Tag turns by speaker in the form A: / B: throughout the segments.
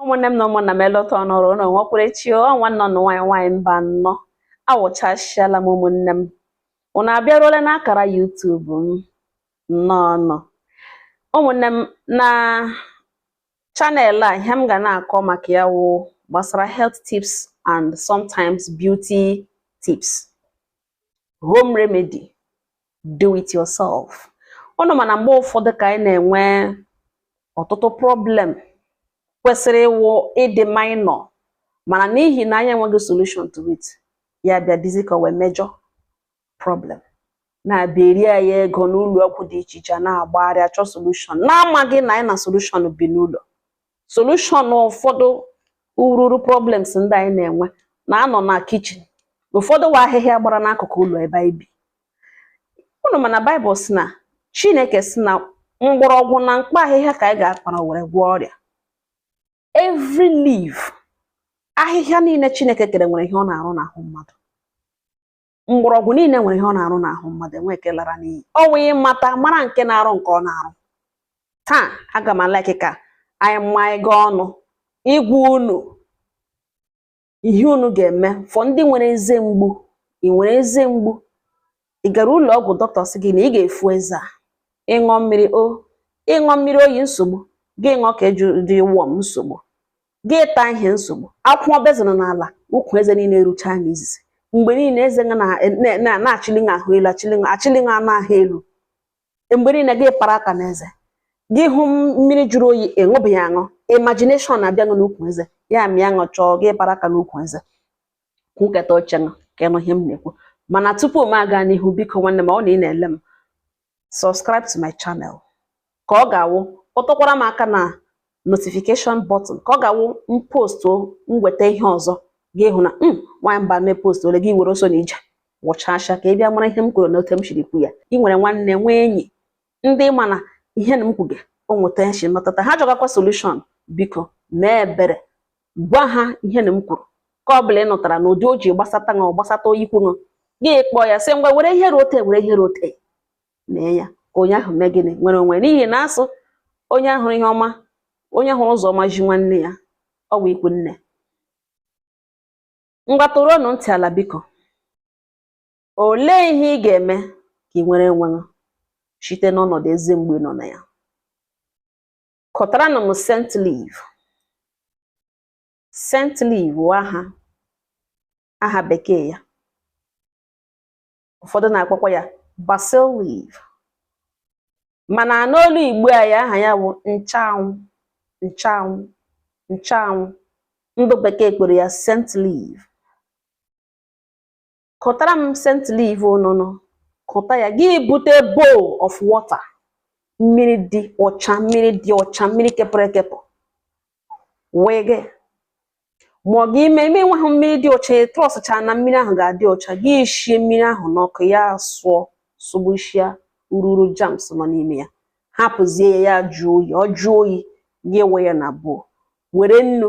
A: ụmụnne m na ụmụnna m elọta ọnọrọ ụlọ nwekwara echi ọ nwanne ụnụ nwaanyị nwaanyị Mbanọ awụchasịala m ụmụnne m ụnụ abịaruola n'akara YouTube m nnọọ nụ ụmụnne m na channel a ihe m ga na-akọ maka ya wụ gbasara health tips and sometimes beauty tips home remedy do it yourself ụnụ ma na mgbe ụfọdụ ka anyị na-enwe ọtụtụ problem kwesịrị ịwụ ịdị minor mana n'ihi na anyị enweghị solution to it ya bịa dịzi ka wee major problem na-abịa eri anyị ego n'ụlọ ọgwụ dị iche iche na-agbagharị achọ solution n'amaghị na anyị na solution bi n'ụlọ solution ụfọdụ ururu problems ndị anyị na-enwe na-anọ na kitchen ụfọdụ wụ ahịhịa gbara n'akụkụ ụlọ ebe anyị bi unu ma na Baịbụl sị na Chineke sị na mgbọrọgwụ na mkpa ahịhịa ka anyị ga-akpara were gwọọ ọrịa every leaf ahịhịa niile Chineke kere nwere ihe ọ na-arụ n'ahụ mmadụ mgbọrọgwụ niile nwere ihe ọ na-arụ n'ahụ mmadụ enwe nke lara n'iyi ọ wụ ịmata mara nke na-arụ nke ọ na-arụ taa aga m alike ka anyị mma ego ọnụ ịgwa unu ihe unu ga-eme for ndị nwere eze mgbu ị nwere eze mgbu ị gara ụlọ ọgwụ dọkịta sị gị na ị ga-efo eze a ịṅụọ mmiri o ịṅụọ mmiri oyi nsogbu gị ṅụọ ke dị warm nsogbu gị taa ihe nsogbu akwụkwọ bezana n'ala ukwu eze niile erucha anya izizi mgbe niile eze na-achịli na ahụ elu achịli achịli anụ ahụ elu mgbe niile gị para aka n'eze gị hụ mmiri jụrụ oyi ịṅụbeghị aṅụ imagination na-abịa gị n'ukwu eze ya mịa gị chọọ gị para aka n'ukwu eze kwuketa oche gị ka ị nụ ihe m na-ekwu mana tupu m aga n'ihu biko nwanne m ọ na ị na-ele m subscribe to my channel ka ọ ga-awụ kpọtụkwara m aka na notification button ka ọ ga-awụ m postuo m weta ihe ọzọ gị hụ na m nwaanyị Mbanọ epostuole gị were ọsọ na ije wụchasha ka ị bịa mara ihe m kwuru na otu m siri kwuo ya ị nwere nwanne nwee enyi ndị ị ma na ihe na m kwuge o nweta nshi metụta ha chọgakwa solution biko mee ebere gwa ha ihe na m kwuru ka ọ bụla ị nụtara na ụdị o ji gbasata na ọ gbasata onye ikwu nne gị kpọọ ya sị ngwa were ihe rote were ihe rote mee ya ka onye ahụ mee gịnị nwere onwe n'ihi na a sị onye hụrụ ihe ọma onye hụrụ ụzọ ọma zi nwanne ya ọ bụ ikwu nne ngwa tọrọnụ ntị ala biko olee ihe ị ga-eme ka ị nwere onwe site n'ọnọdụ eze mgbu ị nọ na ya kọtara na m scent leaf scent leaf aha aha bekee ya ụfọdụ na-akpọkwa ya basil leaf mana n'olu igbo a ya aha ya bụ nchanwụ nchanwụ nchanwụ ndụ bekee kpọrọ ya scent leaf kọtara m scent leaf ọnụnụ kọta ya gị bute bowl of water mmiri dị ọcha mmiri dị ọcha mmiri kepụrụ ekepụ wee gị ma ọ gị ime ime nweghị mmiri dị ọcha trọsụcha na mmiri ahụ ga-adị ọcha gị shie mmiri ahụ n'ọkụ ya sụọ sụgbuchia ururu germs nọ n'ime ya hapụzie ya ya jụọ oyi ọ jụọ oyi gị ewe ya na bowl were nnu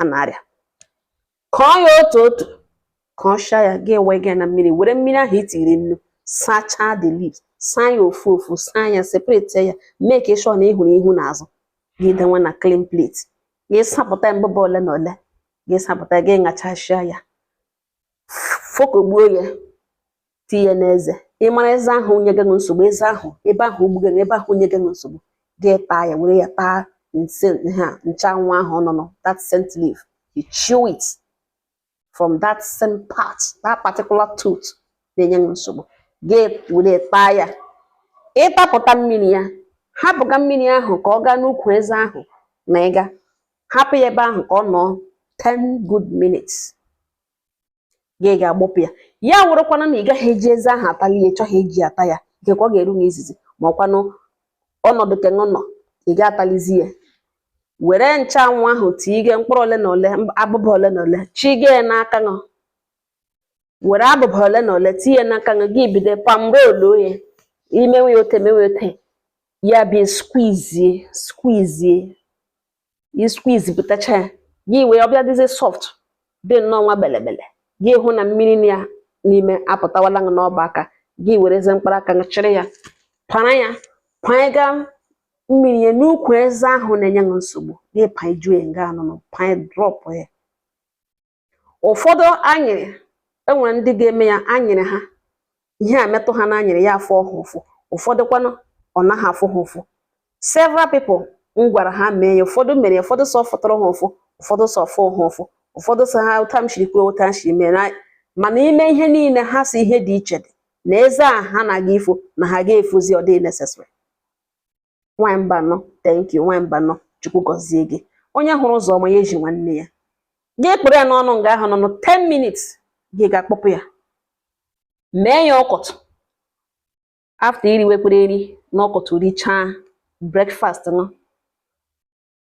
A: a na-arịa kọọ ya otu otu ka ọ shaa ya gị ewe gị na mmiri were mmiri ahụ i tiri nnu sachaa the leaves saa ya ofu ofu saa ya separate ya make sure na ị hụrụ ihu na azụ gị denwe na clean plate gị sapụta abụba ole na ole gị sapụta gị ṅachasịa ya fokogbuo ya tinye n'eze ị mara eze ahụ nye gị nsogbu eze ahụ ebe ahụ gbuga ebe ahụ nye gị nsogbu gị taa ya were ya taa ha nchanwụ ahụ ọnụnụ that scent leaf you chew it from that same part that particular tooth na-enye gị nsogbu gị were taa ya ị tapụta mmiri ya hapụga mmiri ahụ ka ọ gaa n'ukwu eze ahụ na ị ga-ahapụ ya ebe ahụ ka ọ nọọ 10 good minutes gị ga-agbọpụ ya ya wụrụkwanụ na ị gaghị eji eze ahụ atali ya ị chọghị eji ata ya nke ka ọ ga-eru na izizi ma ọkwanụ ọnọdụ kenụ nọ ị ga-atalizi ya were nchụanwụ ahụ tige mkpụrụ ole na ole abụba ole na ole chige ya n'aka ṅụ were abụba ole na ole tinye n'aka ṅụ gị bido palm roll ya i menwe ya otu a menwe otu a ya bịa squeeze squeeze i squeeze pụtacha ya gị wee ọ bịa dịzie soft dị nnọọ nwa belebele gị hụ na mmiri nọ ya n'ime apụtawala gị n'ọba aka gị werezie mkpara aka gị chịrị ya para ya panyega mmiri ya n'ukwu eze ahụ na-enye gị nsogbu gị panyejue nga anụnụ panye drop ya ụfọdụ anyịrị e nwere ndị ga-eme ya anyịrị ha ihe a metụ ha n'anyịrị ya afụ ha ụfụ ụfọdụkwanụ ọ naghị afụ ha ụfụ several people m gwara ha mee ya ụfọdụ mere ya ụfọdụ sị ọ fụtụrụ ha ụfụ ụfọdụ sị ọ fụ ha ụfụ ụfọdụ sọ ha otu m shiri kwuo otu m shiri mee mana n'ime ihe niile ha sị ihe dị iche dị na eze a ha na-aga ifo na ha ga-efozi ọ dị necessary nwaanyị mbanọ thank you nwaanyị mbanọ chukwu gọzie gị onye hụrụ ụzọ ọma ya ezi nwanne ya gị kpụrụ ya n'ọnụ nga ahụ n'ọnụ 10 minutes gị ga-akpọpụ ya mee ya ụtụtụ after i riwekwere nri n'ụtụtụ richaa breakfast nọ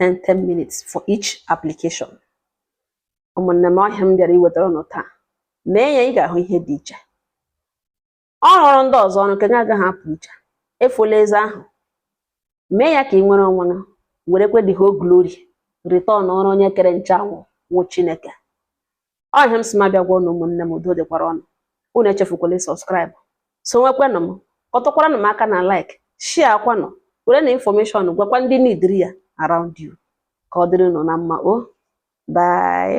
A: 10 10 minutes for each application ụmụnne m ọ ihe m bịara iwetara ụnụ taa mee ya ị ga-ahụ ihe dị iche ọ rụụrụ ndị ọzọ ọrụ nke gị agaghị apụ iche efola eze ahụ mee ya ka i nwere onwe gị werekwe the whole glory returnọrọ onye kere nchanwụ wụ chineke ọ ihe m sị m abịa gwa ụnụ ụmụnne m udo dịkwara unu unu echefukwala ịsubscribe sowekwenụ m kọtụkwaranụ m aka na like shareakwanụ werenụ information gwakwa ndị nidiri ya around you ka ọ dịrị unu na mma o bye